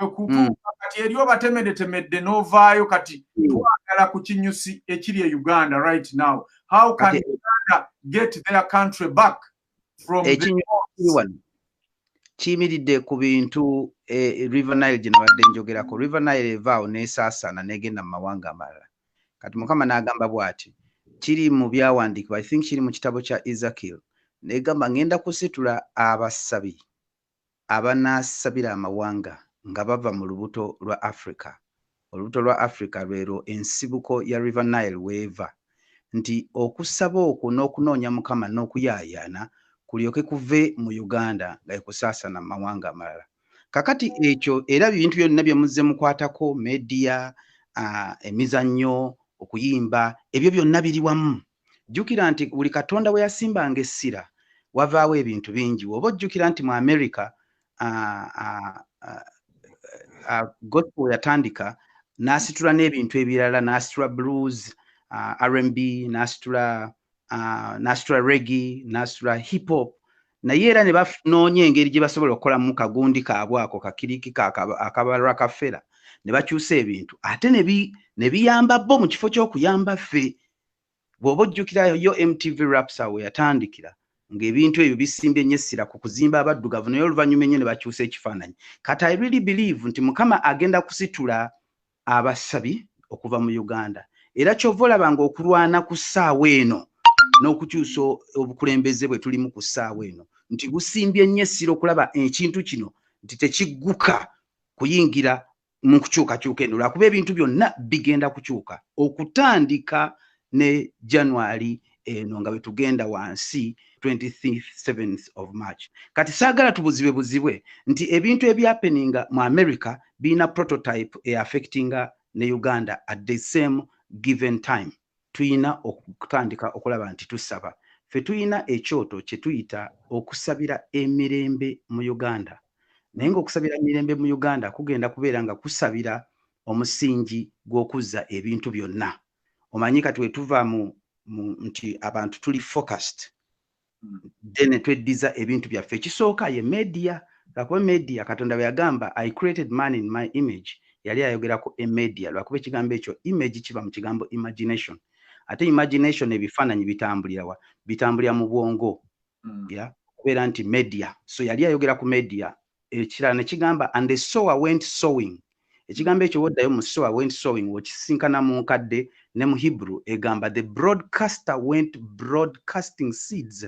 Mm. kati eri obatemedetemedde novaayo kati mm. twagala ku kinyusi ekiri e uganda right now how can uganda get their country back from wano kiyimiridde ku bintu e, river nile gye nabadde njogerako river nile evaawo nesaasaana negenda mu mawanga amalala kati mukama n'agamba bwati kiri mu byawandiikibwa i think kiri mu kitabo kya ezekiel negamba ngenda kusitula abasabi abanaasabira amawanga nga bava mu lubuto lwa Africa, olubuto lwa Africa lwelwo ensibuko ya River Nile w'eva, nti okusaba okwo n'okunoonya Mukama n'okuyaayaana kulyoke kuve mu Uganda nga ekusaasana mu mawanga amalala. Kakati ekyo era bintu byonna bye muzze mukwatako, media, emizannyo, okuyimba, ebyo byonna biri wamu. jjukira nti buli katonda we yasimbanga essira wavaawo ebintu bingi woba ojjukira nti mu america gospel yatandika n'asitula n'ebintu ebirala n'asitula blues rnb n'asitula n'asitula regi n'asitula hip hop naye era ne banoonya engeri gye basobola okukolamu kagundi kaabwe ako kakiriki akabalwa kafera ne bakyusa ebintu ate ne biyamba bo mu kifo ky'okuyamba ffe bw'oba ojjukirayo yo mtv rapsa we yatandikira ng'ebintu ebyo bisimbye nnyo essira ku kuzimba abaddugavu naye oluvannyuma ennyo ne bakyusa ekifaananyi kati i really believe nti mukama agenda kusitula abasabi okuva mu uganda era kyova olaba nga okulwana ku ssaawa eno n'okukyusa obukulembeze bwe tulimu ku ssaawa eno nti busimbye nnyo essira okulaba ekintu kino nti tekigguka kuyingira mu nkukyukakyuka eno lwakuba ebintu byonna bigenda kukyuka okutandika ne january eno nga bwetugenda wansi 27th of march kati saagala tubuzibe buzibwe nti ebintu ebyapeninga mu america birina prototype eaffectinga ne uganda at the same given time tuyina okutandika okulaba nti tusaba. Ffe tuyina ekyoto kyetuyita okusabira emirembe mu Uganda naye nga okusabira emirembe mu Uganda kugenda kubeera nga kusabira omusingi gwokuzza ebintu byonna omanyi kati wetuva mu nti abantu tuli focused then ne tweddiza ebintu byaffe ekisooka ye media lwakuba media katonda bwe yagamba i created man in my image yali ayogera ku emedia lwakuba ekigambo ekyo image kiba mu kigambo imagination ate imagination ebifaananyi bitambulirawa bitambulira mu bwongo mm. ya kubeera nti media so yali ayogera ku media ekirala ne kigamba and the sower went sowing ekigambo ekyo woddayo mu sower went sowing okisinkana mu nkadde ne mu hebrew egamba the broadcaster went broadcasting seeds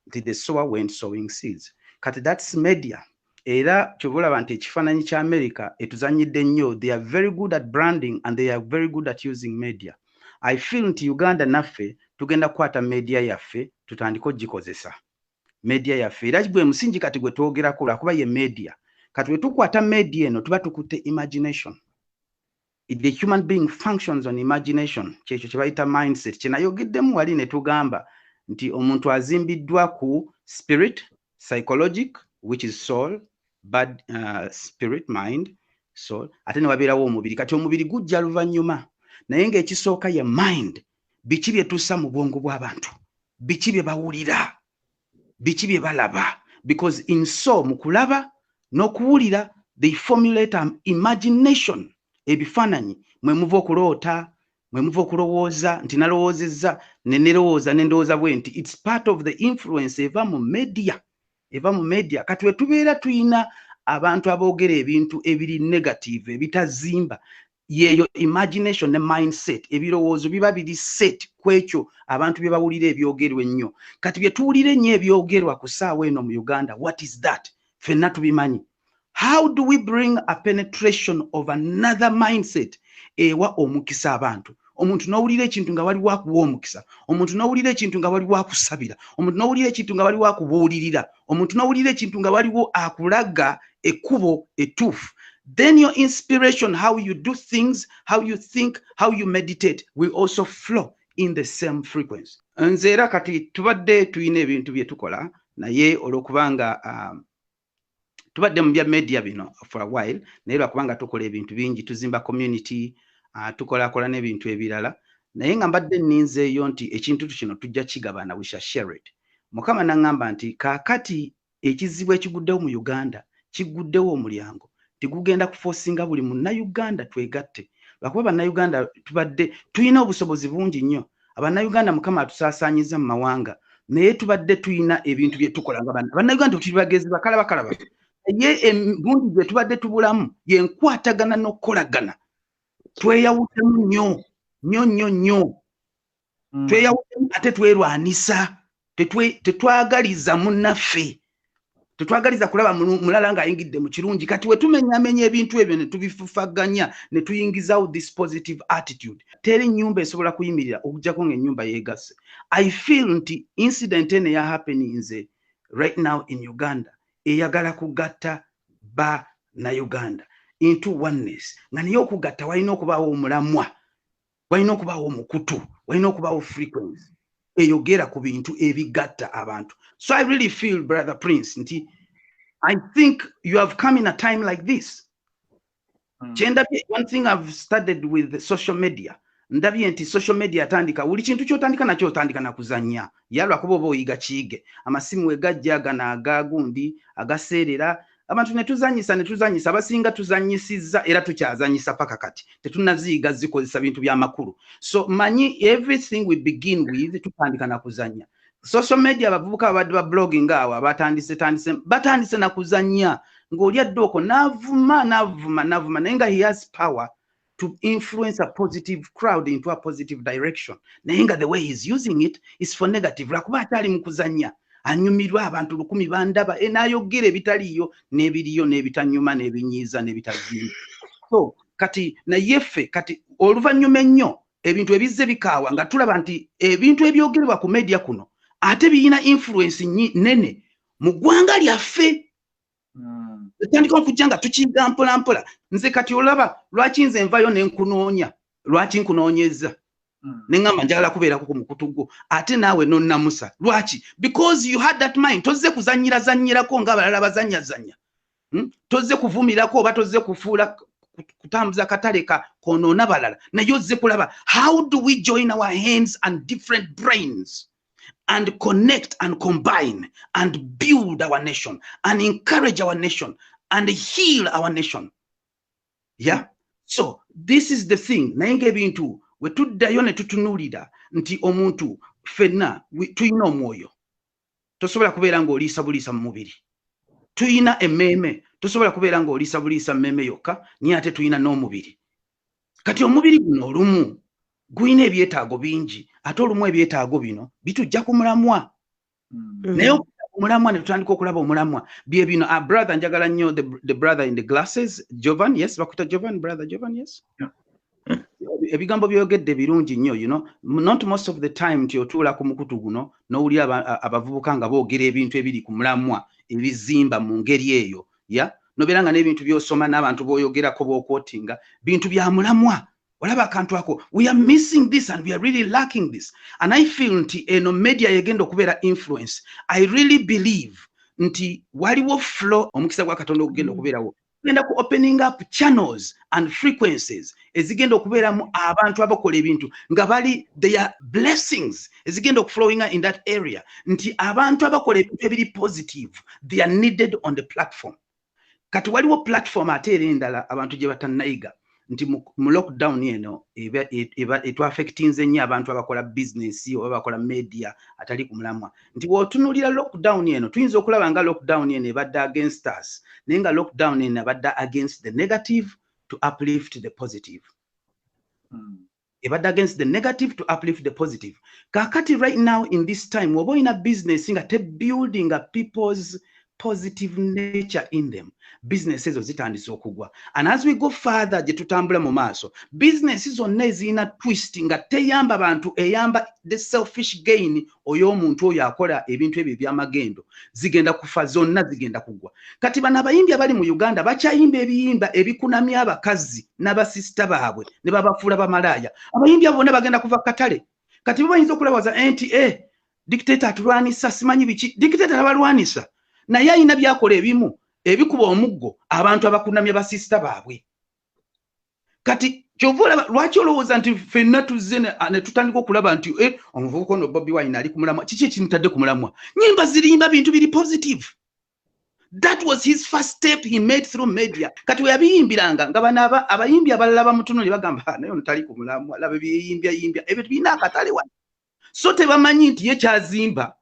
nti the sower went sowing seeds kati that's media era kyova olaba nti ekifaananyi kya america etuzanyidde nnyo they are very good at branding and they are very good at using media i feel nti uganda naffe tugenda kukwata media yaffe tutandike ogikozesa media yaffe era gwe musingi kati gwe twogerako lwakuba ye media kati bwe tukwata media eno tuba tukutte imagination the human being functions on imagination kyekyo kye bayita mindset kye nayogeddemu wali ne tugamba nti omuntu azimbiddwa ku spirit psychologic which is soul bad uh, spirit mind soul ate ne wabeerawo omubiri kati omubiri gujja luvannyuma naye ng'ekisooka ye mind biki bye tussa mu bwongo bw'abantu biki bye bawulira biki bye balaba because in so mu kulaba n'okuwulira they formulate an imagination ebifaananyi mwe muva okuloota mwe muva okulowooza nti nalowoozezza ne nerowooza ne ndowooza bwe nti its part of the influence eva mu media eva mu media kati wetubeera tulina abantu aboogera ebintu ebiri negative ebitazimba yeeyo imagination ne mindset ebirowoozo biba biri set ku ekyo abantu bye bawulira ebyogerwa ennyo kati bye tuwulira ennyo ebyogerwa ku ssaawa eno mu uganda what is that fenna tubimanyi how do we bring a penetration of another mindset ewa omukisa abantu omuntu nowulira ekintu nga waliwo akuwa omukisa omuntu nowulira ekintu nga waliwo akusabira omuntu nowulira ekintu nga waliwo akubuulirira omuntu nowulira ekintu nga waliwo akulaga ekkubo etuufu then your inspiration how you do things how you think how you meditate will also flow in the same frequency nze era kati tubadde tulina ebintu bye tukola naye olwokubanga um, tubadde mu bya media bino for a while naye lwakubanga tukola ebintu bingi tuzimba community uh, tukolakola n'ebintu ebirala naye nga mbadde ninzeeyo nti ekintu kino tujja kigabana we shall share it mukama naŋŋamba nti kaakati ekizibu ekiguddewo mu uganda kiguddewo omulyango tigugenda kufosinga buli munnayuganda twegatte lwakuba bannayuganda tubadde tulina obusobozi bungi nnyo abannayuganda mukama atusaasaanyiza mu mawanga naye tubadde tulina ebintu bye tukola nga bannayuganda tuli bagezi bakala bakala ba naye embungi gye tubadde tubulamu yenkwatagana n'okukolagana tweyawuddemu nnyo nnyo nnyo nnyo hmm. tweyawuddemu ate twerwanisa tetwagaliza munaffe tetwagaliza kulaba mulala ng'ayingidde mu kirungi kati wetumenyamenya ebintu ebyo ne tubifufaganya ne tuyingizawo this positive attitude teri nnyumba esobola kuyimirira okujjako ng'ennyumba yeegasse i feel nti incident eno eya happeninze right now in uganda eyagala kugatta ba na uganda into oneness nga naye okugatta walina okubaawo omulamwa walina okubaawo omukutu walina okubaawo frequency eyogera ku bintu ebigatta abantu so i really feel brother prince nti i think you have come in a time like this hmm. kyendabye one thing i've studied with the social media ndabye nti social media atandika buli kintu kyotandika nakyo otandika nakuzanya yalwa kuba oba oyiga kiige amasimu wegajja gana agagundi agaseerera abantu netuzanyisa netuzanyisa abasinga tuzanyisiza era tukyazanyisa paka kati tetunaziyiga zikozesa bintu byamakulu so manyi everything we begin with tutandika nakuzanya social media abavubuka ababadde ba blogging awo abatandise tandise batandise nakuzanya ngaoli adde oko navuma navuma navuma naye nga he has power to influence a positive crowd into a positive direction naye nga the way he's using it is for negative lwakuba akyali mu kuzanya anyumirwa abantu lukumi bandaba e nayogera ebitaliiyo n'ebiriyo n'ebitanyuma n'ebinyiiza n'ebitazimba so kati naye ffe kati oluvannyuma ennyo ebintu ebizze bikaawa nga tulaba nti ebintu ebyogerebwa ku media kuno ate biyina influence nene mu ggwanga lyaffe hmm. etandika okujja nga tukiga mpolampola nze kati olaba lwaki nze nvayo nenkunoonya lwaki nkunoonyezza hmm. neŋamba njagala kubeerako ku mukutu gwo ate naawe nonnamusa lwaki because you had that mind tozze kuzanyira zanyirako nga abalala bazanya zanya hmm? tozze kuvumirako oba tozze kufuula kutambuza katale ka konoona balala naye ozze kulaba how do we join our hands and different brains and connect and combine and build our nation and encourage our nation and heal our nation yeah so this is the thing naye ngaebintu wetuddayo netutunulira nti omuntu fenna tulina omwoyo tosobola kubeera ngaoliisa buliisa mu mubiri tulina emmeeme tosobola kubeera ngaoliisa buliisa mmeeme yokka naye ate tulina n'omubiri kati omubiri guno olumu gulina ebyetaago bingi ate olumu ebyetaago bino bitujja ku mulamwa mm. naye omulamwa ne tutandika okulaba omulamwa bye bino a ah, brother njagala nnyo the brother in the glasses jovan yes bakuta jovan brother jovan yes ebigambo byoyogedde birungi nnyo you know not most of the time nti otuula ku mukutu guno n'owulira abavubuka nga boogera ebintu ebiri ku mulamwa ebizimba mu ngeri eyo ya nobeera nga n'ebintu byosoma n'abantu boyogerako bokwotinga bintu bya mulamwa olaba akantu ako we are missing this and we are really lacking this and i feel nti eno media yegenda okubeera influence i really believe nti waliwo flow omukisa gwa katonda okugenda mm. okubeerawo genda ku opening up channels and frequencies ezigenda okubeeramu abantu abakola ebintu nga bali their blessings ezigenda okuflowinga in that area nti abantu abakola ebintu ebiri positive they are needed on the platform kati waliwo platform ate era endala abantu gye batannayiga nti mu lockdown eno etwafectinze nnyo abantu abakola bizinesi oba bakola media atali ku mulamwa nti bwotunulira lockdown eno tuyinza okulaba nga lockdown eno ebadde against us naye nga lockdown eno abadde against the negative to uplift the positive hmm. ebadde against the negative to uplift the positive kakati right now in this time oba olina business nga te building people's positive nature in them business ezo zitandise okugwa and as we go further gye tutambula mu maaso business zonna ezirina twist nga teyamba bantu eyamba the selfish gain oyo omuntu oyo akola ebintu ebyo ebyamagendo zigenda kufa zonna zigenda kugwa kati bano abayimbi abali mu uganda bakyayimba ebiyimba ebikunamya abakazi n'abasisita baabwe ne babafuula bamalaaya abayimbi abo bonna bagenda kuva katale kati bo bayinza okulawaza nti e eh, dictator atulwanisa simanyi biki dictator abalwanisa naye ayina byakola ebimu ebikuba omuggo abantu abakunamya basista baabwe kati kyova olaba lwaki olowooza nti fenna tuzze netutandika okulaba nti eh, omuvubuka ono bobi wine ali kumulamwa kiki ekimutadde kumulamwa nyimba zirimba bintu biri positive that was his first step he made through media kati weyabiyimbiranga nga bana abayimbi abalala bamutuno ne bagamba ah, naye ono tali kumulamwa laba ebyeyimbyayimbya ebyo tubirina akatale wano so tebamanyi nti ye kyazimba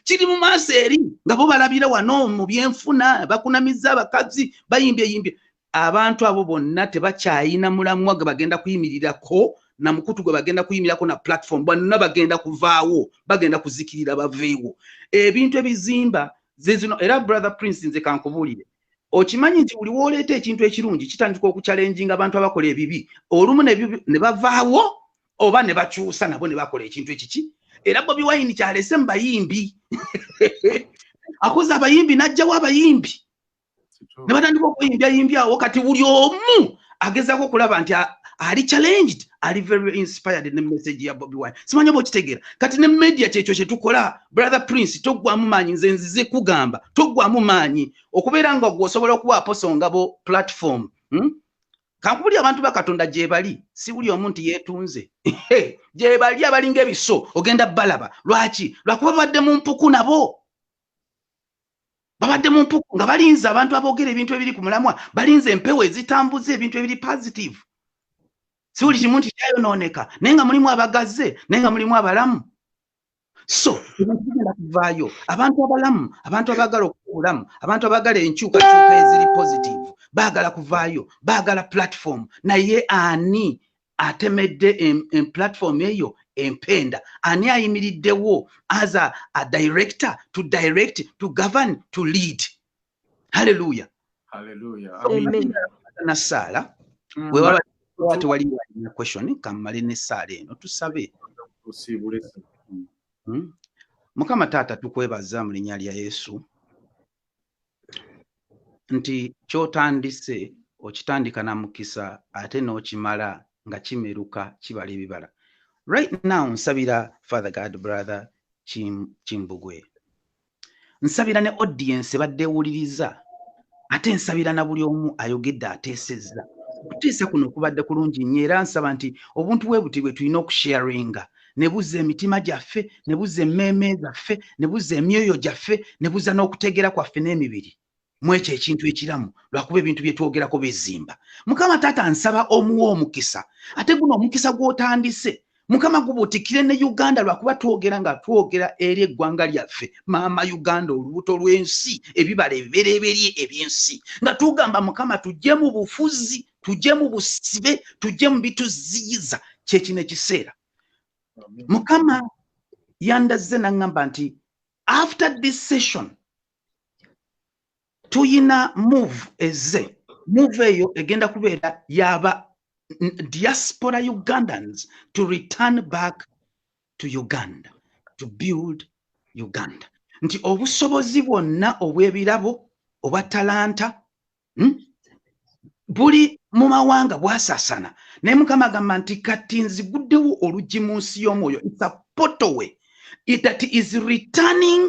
kiri mu maaso eri nga bo balabira wano mu byenfuna bakunamizza abakazi bayimbye yimbye abantu abo bonna tebakyayina mulamwa gwe bagenda kuyimirirako na mukutu gwe bagenda kuyimirako na platform bonna bagenda kuvaawo bagenda kuzikirira baveewo ebintu ebizimba zezino era brother prince nze kankubuulire okimanyi nti buli wooleeta ekintu ekirungi kitandika okukyalenjinga abantu abakola ebibi olumu ne bavaawo oba ne bakyusa nabo ne bakola ekintu ekiki era bobi wayini kyalese mu bayimbi akoze abayimbi n'ajjawo abayimbi ne batandika okuyimbya yimbya awo kati buli omu agezaako okulaba nti ali challenged ali very inspired ne message ya bobi wine simanya oba okitegeera kati ne media kyekyo kye tukola brother prince toggwamu maanyi nze nzize kugamba toggwamu maanyi okubeera nga gwe osobola okuba aposongabo platform hmm? kankubuli abantu bakatonda gyebali sibuli omu nti yetunze gyebali abalinga ebiso ogenda balaba lwaki lwakuba babadde mu mpuku nabo babadde mu mpuku nga balinze abantu aboogera ebintu ebiri ku mulamwa balinze empewo ezitambuza ebintu ebiri positive sibuli kimu nti kyayonooneka naye nga mulimu abagazze naye nga mulimu abalamu so tugenda kuvaayo abantu abalamu abantu abaagala okukulamu abantu abaagala enkyukakyuka eziri positive baagala kuvaayo baagala platform naye ani atemedde platform eyo empenda ani ayimiriddewo as a, a director to direct to govern to lead haleluya nasaala mm. wewaba tewali walina question kammale nesaala eno tusabe hmm? mukama taata tukwebaza mu linya lya yesu nti kyotandise okitandika na mukisa ate n'okimala nga kimeruka kibala ebibala right now nsabira father god brother kimbugwe nsabira ne audience badde ewuliriza ate nsabira na buli omu ayogedde ateesezza okuteesa kuno kubadde kulungi nnyo era nsaba nti obuntu bwe buti bwe tulina okusharinga ne buzza emitima gyaffe ne buzza emmeeme zaffe ne buzza emyoyo gyaffe ne buzza n'okutegeera kwaffe n'emibiri mwekyo ekintu ekiramu lwakuba ebintu byetwogerako bizimba mukama taata nsaba omuwa omukisa ate guno omukisa gwotandise mukama gubutikire ne uganda lwakuba twogera nga twogera eri eggwanga lyaffe maama uganda olubuto lw'ensi ebibala ebibereberye ebyensi nga tugamba mukama tujje mu bufuzi tujje mu busibe tujje mu bituziyiza kyekino ekiseera mukama yandazze naŋŋamba nti after this session tuyina move eze move eyo egenda kubeera yaba diaspora ugandans to return back to uganda to build uganda nti obusobozi bwonna obw'ebirabo obwa talanta hmm? buli mu mawanga bwasasana naye mukama agamba nti kati nziguddewo oluggi mu nsi y'omwoyo its a potowe that is returning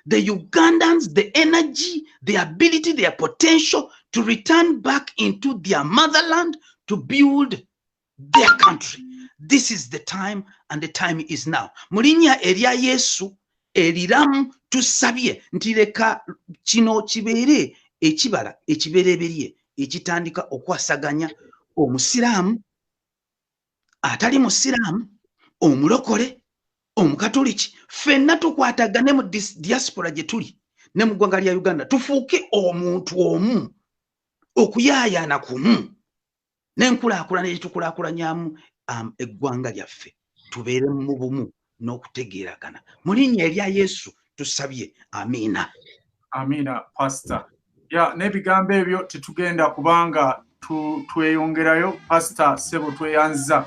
the ugandans the energy the ability their potential to return back into their motherland to build their country this is the time and the time is now mu linnya erya yesu eriramu tusabye nti leka kino kibeere ekibala ekibereberye ekitandika okwasaganya omusiraamu atali musiraamu omulokole omukatoliki ffenna tukwatagane mu diaspora gye tuli ne mu ggwanga lya uganda tufuuke omuntu omu okuyaayaana kumu n'enkulaakulana egitukulakulanyamu um, eggwanga lyaffe tubeere mu bumu n'okutegeeragana mu linnya erya yesu tusabye amiina amiina pasita ya n'ebigambo ebyo tetugenda kubanga tweyongerayo pasita sebo tweyanziza